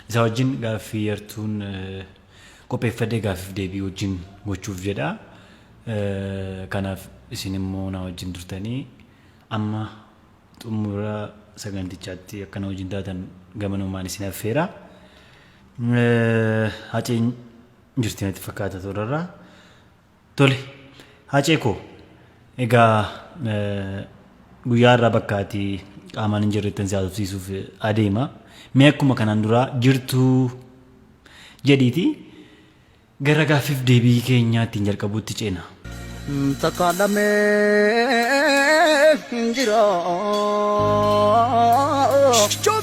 Isa wajjin gaaffii yartuun qopheeffadhee gaaffiif deebii wajjin gochuuf jedha. Kanaaf isin immoo na wajjin turtanii amma xumura sagantichaatti akka na wajjin taatan gamanumaan isin affeera. Haceen jirti natti fakkaata toorarraa. Tole Hacee koo egaa guyyaa irraa bakka ati qaamaan hin jirrettan si haasofsiisuuf adeema. Mee akkuma kanaan duraa jirtuu jedhiiti gara gaaffiif deebii keenyaa ittiin jalqabuutti ceena. Takka lamee hin jira.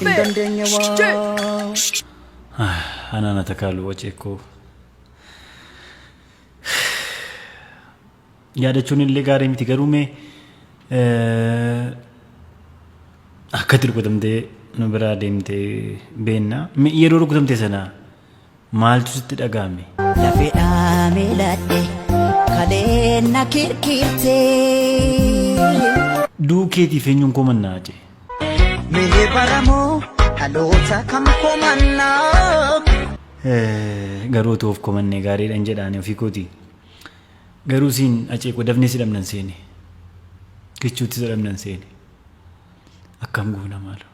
Hin dandeenye waa. Anaan atakaalu Hacee koo. yaadachuun illee gaarii miti garuu mee akka itti rukutamtee nu biraa deemte beenna yeroo rukutamte sana maaltu sitti dhaga'ame. Lafeedhaa miiladhe kaleen na kirkirtee. Duukeetiif eenyuun koo mannaa jee. Mee baramoo dhaloota kam komannaa? Garuu utuu of komannee gaariidhan jedhaani ofii kooti. Garuu siin aceekoo dafnee si dhabnan seene. Kichuutti si dhabnan seene. Akkam goona maaloo.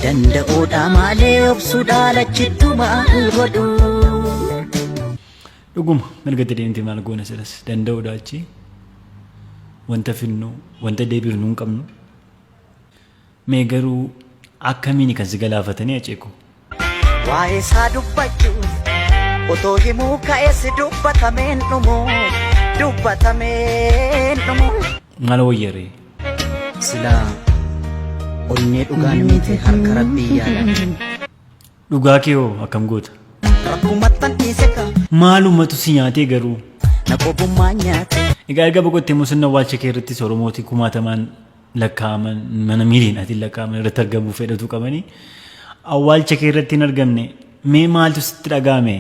Danda'uudha maalee obsuudha lachittu maal godhu. Dhuguma mirgatti deemtee maal goona silas danda'uudha achi. Wanta finnu wanta deebifnu hin qabnu. Mee garuu akkamiini kan si galaafatanii hacee koo. Waa'ee isaa dubbachuuf otoo himuu ka'es dubbatameen dhumu dubbatameen dhumu. Maal wayya ree. Silaa onnee dhugaan miite harka rabbii yaala. Dhugaa kee hoo akkam goota? Rakkumattan dhiiseka Maalumatu si nyaatee garuu? na qobummaa nyaate. Egaa erga boqottee immoo sirna awwaalcha kee irratti Oromooti kumaatamaan lakkaa'aman mana miiliinaatiin lakkaa'aman irratti argamuu fedhatu qabanii awwaalcha kee irratti hin argamne mee maaltu sitti dhaga'ame?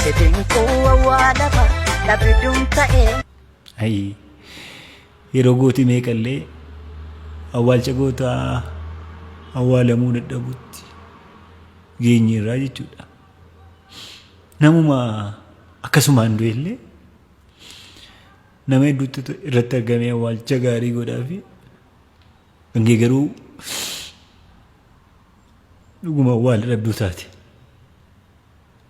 Sedinkuu awwaalama dhabidum ta'ee. Ayii. Yeroo gooti meeqa illee awwaalcha gootaa awwaalamuu dadhabutti geenyeerraa jechuudha. Namuma akkasumaan du'e illee nama hedduutti irratti argamee awwaalcha gaarii godhaa fi hangee garuu dhuguma awwaala dhabduu taate.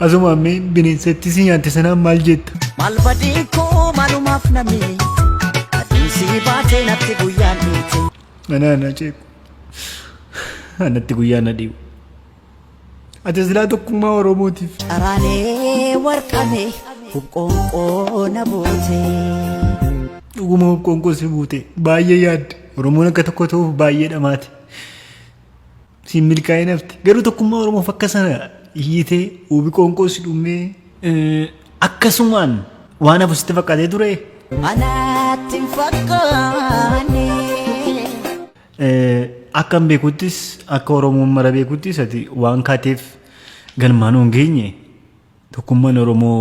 Asuma ammee bineensatti si nyaatte sanaan maal jetta? Maal badii koo maalumaaf na miite Adiin sii baatee natti guyyaan dhiite Ana ana ceeku. Anatti guyyaa na dhiibu. Ati silaa tokkummaa Oromootiif. Caraanee warqamee hubqoonqoo na buutee Dhuguma hubqoonqoo si buute. Baay'ee yaadde. Oromoon akka tokko ta'uuf baay'ee dhamaate. siin milkaa'ee nafti garuu tokkummaa oromoof akka sana iyyitee uubi qoonqoo si dhummee eh, akkasumaan waan hafu sitti fakkaatee ture Anaatti hin fakkaanne. Eh, akka hin beekuttis akka oromoon mara beekuttis ati waan kaateef galmaan hin geenye tokkummaan oromoo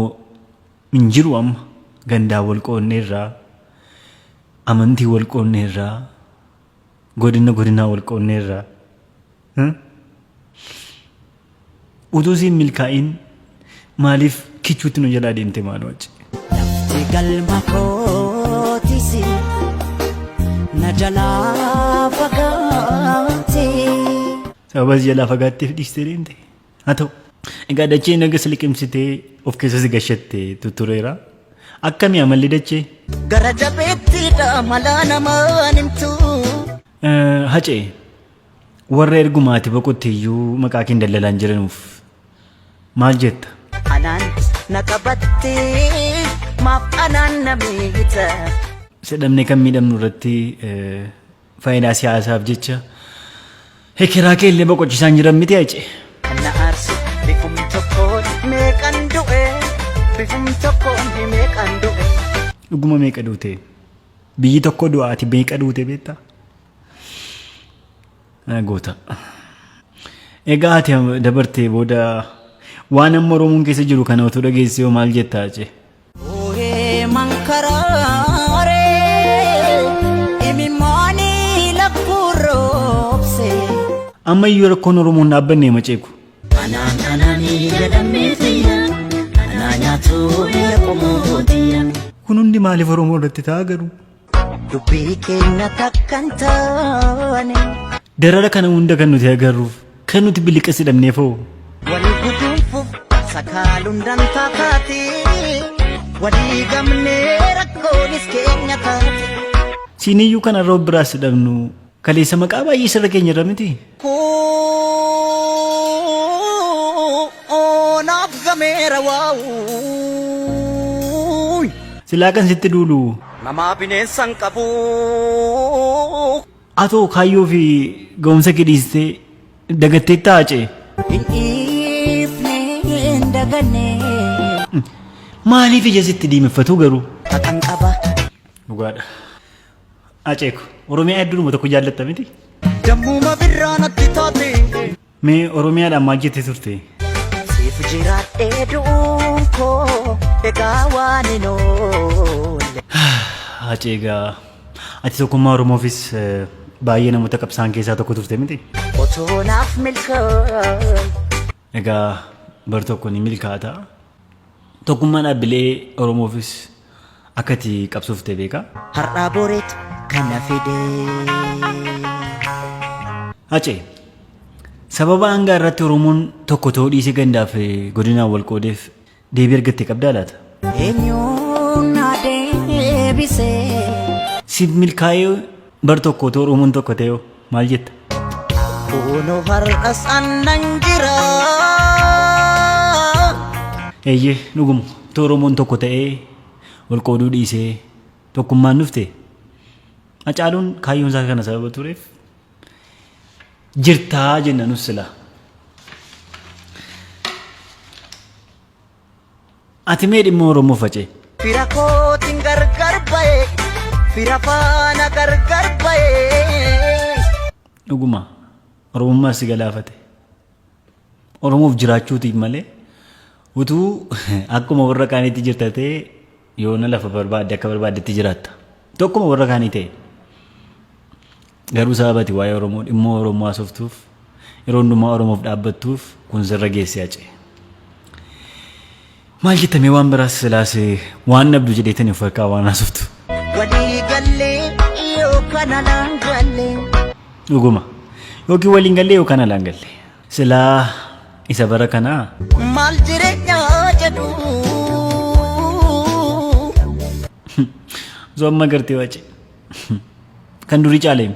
hin jiru amma gandaa wal qoodneerraa amantii wal qoodneerraa Godinna godinaa wal qoonneerra. Utuu siin milkaa'iin maaliif kichuutti nu jalaa deemte maaloo achi. Lafti galma kootisi na jalaa fagaate. Sababa si jalaa fagaatteef dhiistee deemte. Haa ta'u. Egaa dachee naga si liqimsitee of keessa si gashatte tuttureera. Akkami amalli dachee? Gara jabeettiidha malaa namaan himtu. Eh, Hacee, warra erguma ati boqotte iyyuu maqaa keen dallalaan jiranuuf maal jetta? Anaan na qabatte maaf anaan na miita. Isa dhabnee kan miidhamnu irratti eh, Fayidaa siyaasaaf jecha hekeraa kee illee boqochisaan jiran miti hace. Kan na aarse bifum tokkoon meeqan du'e bifum tokkoon meeqan du'e. Dhuguma meeqa duute? Biyyi tokko du'a ati meeqa duute beekta? Yaa Goota. Egaa ati dabartee booda waan amma Oromoon keessa jiru kana otoo dhageessee hoo maal jetta hace? Ooyee mankaraare imimmaanii lakkuu roobse. Amma iyyuu rakkoon Oromoon dhaabbanne hima ceeku. Anaan anaanii jedhamee fayya anaa nyaatuu biyya qomoo biyya. Kun hundi maaliif Oromoo irratti ta'a garuu? Dubbii keenya takkan taane. Darara kana hunda kan nuti agarruuf kan nuti biliqas hidhamneef hoo? Wali guduunfuuf sakaaluun dantaa taate. Walii gamnee rakkoonis keenya taate. Siiniyyuu kanarra of biraas hidhamnu Kaleessa maqaa baay'ee sirra keenya irra miti. Koo naaf gameera waawuuy. Silaa kan sitti duulu. Namaa bineensa hin qabu. Atoo kaayyoo fi ga'umsa kee dhiistee dagatteetta haacee. Hin dhiifne hin daganne. Maaliif ija sitti diimeffatuu garuu? Kakan qaba. Dhugaadha. Aceeko. Oromiyaa hedduudhuma tokko jaallatta miti. Dammuma birraa natti taate. Mee Oromiyaadhaan maal jettee turte? Siif jiraadhee du'uun koo egaa waan hin oolle. Aceegaa. Ati tokkummaa Oromoofis eh, baay'ee namoota qabsaan keessaa tokko turte miti. Otoo naaf milkaa'e. Egaa bar tokko ni milkaata. Tokkummaa dhaabbilee Oromoofis akka itti qabsoofte beeka. Har'aa boreetu kana fidee. Hacee, sababa hanga har'atti Oromoon tokko ta'uu dhiisee gandaaf godinaan wal qoodeef Deebii argatte qabdaa laata? Eenyuun na deebisee. Siif milkaa'ee bar tokko otoo Oromoon tokko ta'e hoo maal jetta? Kuunu har'as annan jira. Eeyyee dhuguma otoo Oromoon tokko ta'ee wal qooduu dhiisee tokkummaan dhufte Hacaaluun kaayyoon isaa kana sababa tureef jirtaa jenna nus silaa. Ati mee dhimma Oromoo facee. Fira kootiin gargar ba'e fira faana gargar ba'e. Dhuguma Oromummaa si galaafate. Oromoof jiraachuutiif malee utuu akkuma warra kaaniitti jirta ta'e yoona lafa barbaadde akka barbaaddetti jiraatta. Tokkuma warra kaanii ta'e. Garuu sababati waa'ee Oromoo dhimmoo Oromoo haasoftuuf yeroo hundumaa Oromoof dhaabbattuuf kun sirra geessee hacee. Maal jetta mee waan biraas silaase waan dhabdu jedheetani of harkaa waan haasoftu. Walii gallee yoo kana naan galle. Dhuguma. Yookiin waliin gallee yookaan alaan galle. Silaa isa bara kanaa. Maal jireenyaa jedhu. Zoo amma gartee wace. Kan durii caaleemi.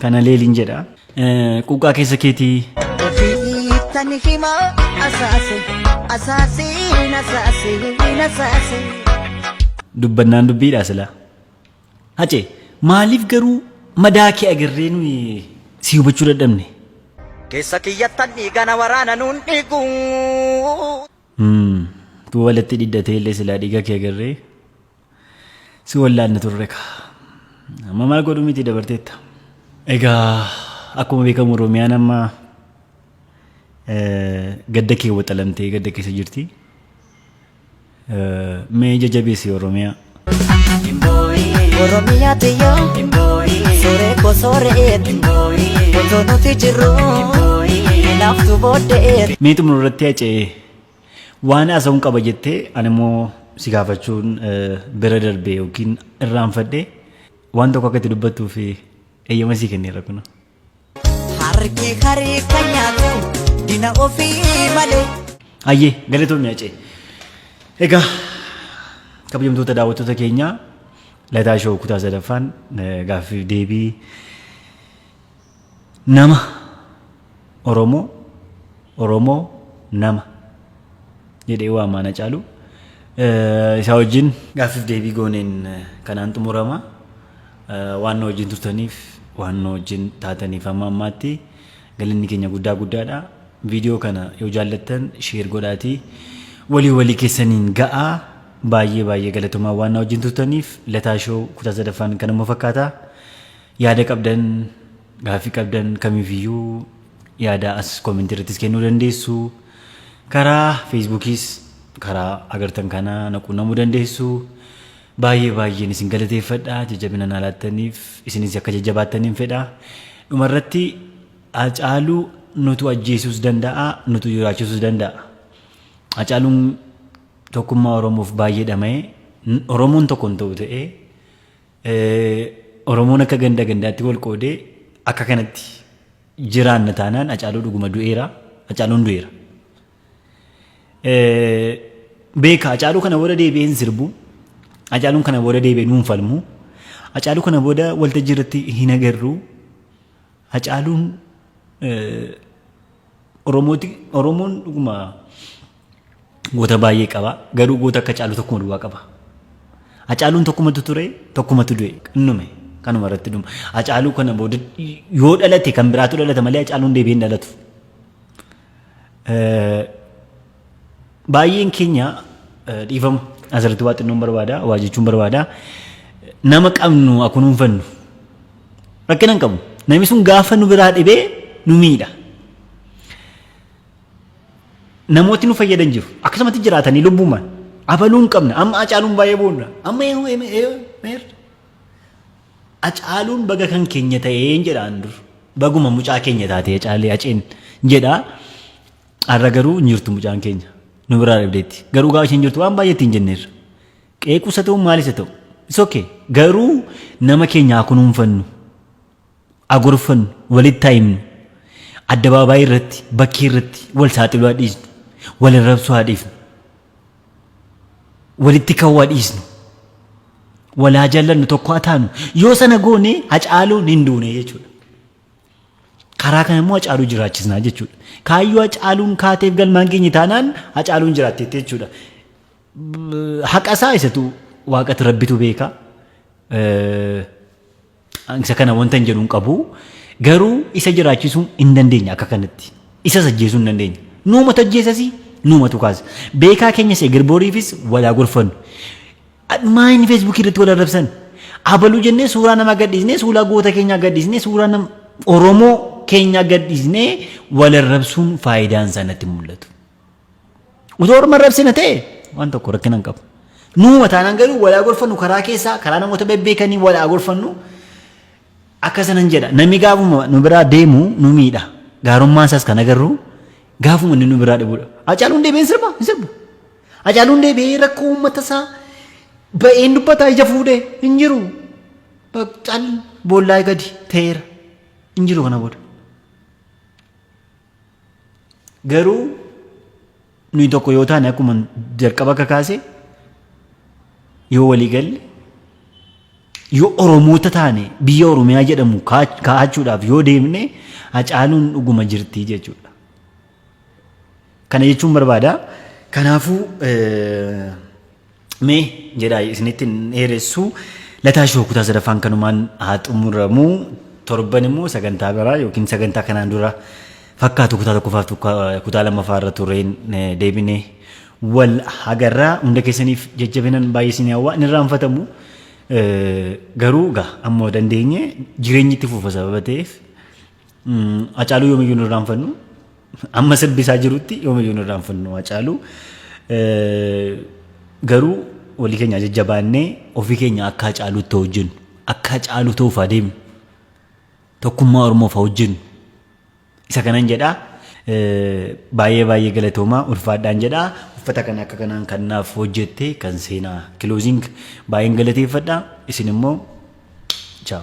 Kana leeliin jedha. Quuqqaa keessa keetii. Ofiittan hima asaase asaasiin asaasiin asaase. Dubbannaan dubbiidha silaa. Hacee maaliif garuu madaa kee agarree nuyi si hubachuu dadhabne? Keessa kiyyattan dhiigana waraana nuun dhiigu. Tuu walatti dhidhatee illee silaa dhiiga kee agarree. si wallaanna turre ka. Amma maal godhu miti dabarteetta. Egaa akkuma beekamu Oromiyaan amma eh, gadda kee waxalamtee gadda keessa jirti. Eh, Mee jajjabeessi Oromiyaa. Oromiyaa tiyya Suuree koo sooreeti Otoo nuti jirru Naaftu booddeeti Mee xumura irratti hacee Waan haasa'uun qaba jettee ani immoo si gaafachuun bira darbee yookiin irraanfadhee waan tokko akka itti dubbattuuf eeyyama sii kenneera kun. Harki harii kan nyaatu dina ofii malee. Hayyee galatoomii hacee. Egaa kabajamtoota daawwattoota keenyaa lataa shoo kutaa sadaffaan gaaffiif deebii Nama Oromoo Oromoo nama jedhee waamaan Hacaaluu Eh, isaa wajjin gaaffiif deebii gooneen eh, kanaan xumurama Eh, waan nu wajjin turtaniif waan nu wajjin taataniif amma ammaatti galanni keenya guddaa guddaadha viidiyoo kana yoo jaallattan sheer godhaatii walii walii keessaniin ga'aa baay'ee baay'ee galatomaa waan nu wajjin turtaniif lataa shoo kutaa sadaffaan kanuma fakkaata Yaada qabdan, gaaffii qabdan kamiifiyyuu yaada as koomentii irrattis kennuu dandeessu. Karaa Feesbuukiis karaa agartan kana na quunnamuu dandeessu. Baay'ee baay'een isin galateeffadha jajjabina naa laattaniif isinis akka jajjabaattaniin fedha. Dhumarratti Hacaaluu nutu ajjeesuus danda'a nutu jiraachuus danda'a. Hacaaluun tokkummaa Oromoof baay'ee dhama'e Oromoon tokko hin ta'u ta'ee Oromoon akka ganda gandaatti wal qoodee akka kanatti jiraanna taanaan Hacaaluu dhuguma du'eera. Hacaaluun du'eera. Beeka Hacaaluu kana booda deebi'ee hin sirbu. Hacaaluun kana booda deebi'ee nuun falmu. Hacaaluu kana booda waltajjii irratti hin agarru. Hacaaluun Oromooti Oromoon dhuguma Goota baay'ee qaba. Garuu goota akka Hacaaluu tokkuma duwwaa qaba. Hacaaluun tokkumatu ture, tokkumatu du'e. Innume kanuma irratti dhuma. Hacaaluu kana booda yoo dhalate kan biraatu dhalata malee Hacaaluun deebi'ee hin dhalatu. Eh, Baay'een keenya eh, dhiifama asirratti waa xinnoon barbaada, waa jechuun barbaada. Nama qabnu haa kunuunfannu. Rakkina hin qabu. Namni sun gaafa nu biraa dhibee nu miidha. namooti nu fayyadan jiru. Akkasumatti jiraatanii lubbumaan. Abaluun qabna. Amma acaaluun baay'ee boonna. Amma eeyyuu eeyyuu meerra. Acaaluun baga kan keenya ta'een jedhaan dur. Baguma mucaa keenya taatee acaalee aceen jedhaa. Har'a garuu hin jirtu mucaan keenya. Nu biraa dhabdeetti. Garuu gaafa isheen jirtu waan baay'ee ittiin jenneerra. Qeequusa ta'u maalis haa ta'u. It's okay. Garuu nama keenya haa kunuunfannu. haa gorfannu, walitti haa himnu. Addabaabaayii irratti, bakkee irratti wal saaxiluu haa dhiisnu. Wal arrabsuu haa dhiifnu. Walitti ka'uu haa dhiisnu. Wal haa jaallannu, tokko haa taanu. Yoo sana goone Hacaaluun hin duune jechuudha. Karaa kana immoo Hacaaluu jiraachisnaa jechuudha. Kaayyoo Hacaaluun kaateef galmaan geenye taanaan Hacaaluun jiraatteetti jechuudha. Haqa isaa isatu waaqatu rabbitu beeka. Isa kana wanta hin jedhu hin qabu. Garuu isa jiraachisuu hin dandeenya akka kanatti. Isas ajjeesuu hin dandeenya. Nuumatu ajjeesasi nuumatu kaasa. Beekaa keenya see girbooriifis walaa gorfannu. Dhumaa inni feesbuukii irratti wal arrabsan. Abaluu jennee suuraa namaa gadhiisnee suuraa goota keenyaa gadhiisnee suuraa nama Oromoo keenyaa gadhiisnee wal arrabsuun faayidaan isaa natti mul'atu. Utuu orma arrabsina ta'e waan tokko rakkina hin qabu. Nuuma taanaan garuu walaa gorfannu karaa keessaa karaa namoota bebbeekanii walaa gorfannu akka sanan jedha. Namni gaafuma nu biraa deemu nu miidha. Gaarummaan isaas kan agarru gaafuma inni nu biraa dhibudha. Hacaaluun deebi'een sirba hin sirbu. Hacaaluun deebi'ee rakkoo uummata isaa ba'een dubbataa ija fuudhee hin jiru. Cal boollaa gadi ta'eera hin jiru kana booda. Garuu nuyi tokko yoo taane akkuma jalqaba akka kaase yoo walii galle yoo Oromoota taane biyya Oromiyaa jedhamu kaa- kaa'achuudhaaf yoo deemne hacaaluun dhuguma jirti jechuudha. Kana jechuun barbaada. Kanaafuu eh, Mee jedhaa isinitti hin dheeressu. Lataa shoo kutaa sadaffaan kanumaan haa xumuramu. Torban immoo sagantaa biraa yookiin sagantaa kanaan dura fakkaatu kutaa tokkoffaaf tokko- kutaa lammaffaa irra tureen eh, deebinee wal agarraa hunda keessaniif jajjabinan baay'ee isin hawwaa inni irraanfatamu eh, garuu gaa amma dandeenye jireenyi itti fufa sababa ta'eef Hacaaluu yoomiyyuu hin irraanfannu. Amma sirbi isaa jirutti yoomiyyuu hin irraanfannu Hacaaluu. Garuu walii keenya jajjabaannee ofii keenya akka Hacaaluutti hojjennu. Akka Hacaaluu ta'uuf adeemnu. Tokkummaa Oromoof hojjennu. Isa kanan jedhaa baay'ee baay'ee galatoomaa ulfaadhaan jedhaa uffata kana akka kanaan kan naaf hojjette kan seenaa kilooziing baay'een galateeffadha isin immoo chaaw.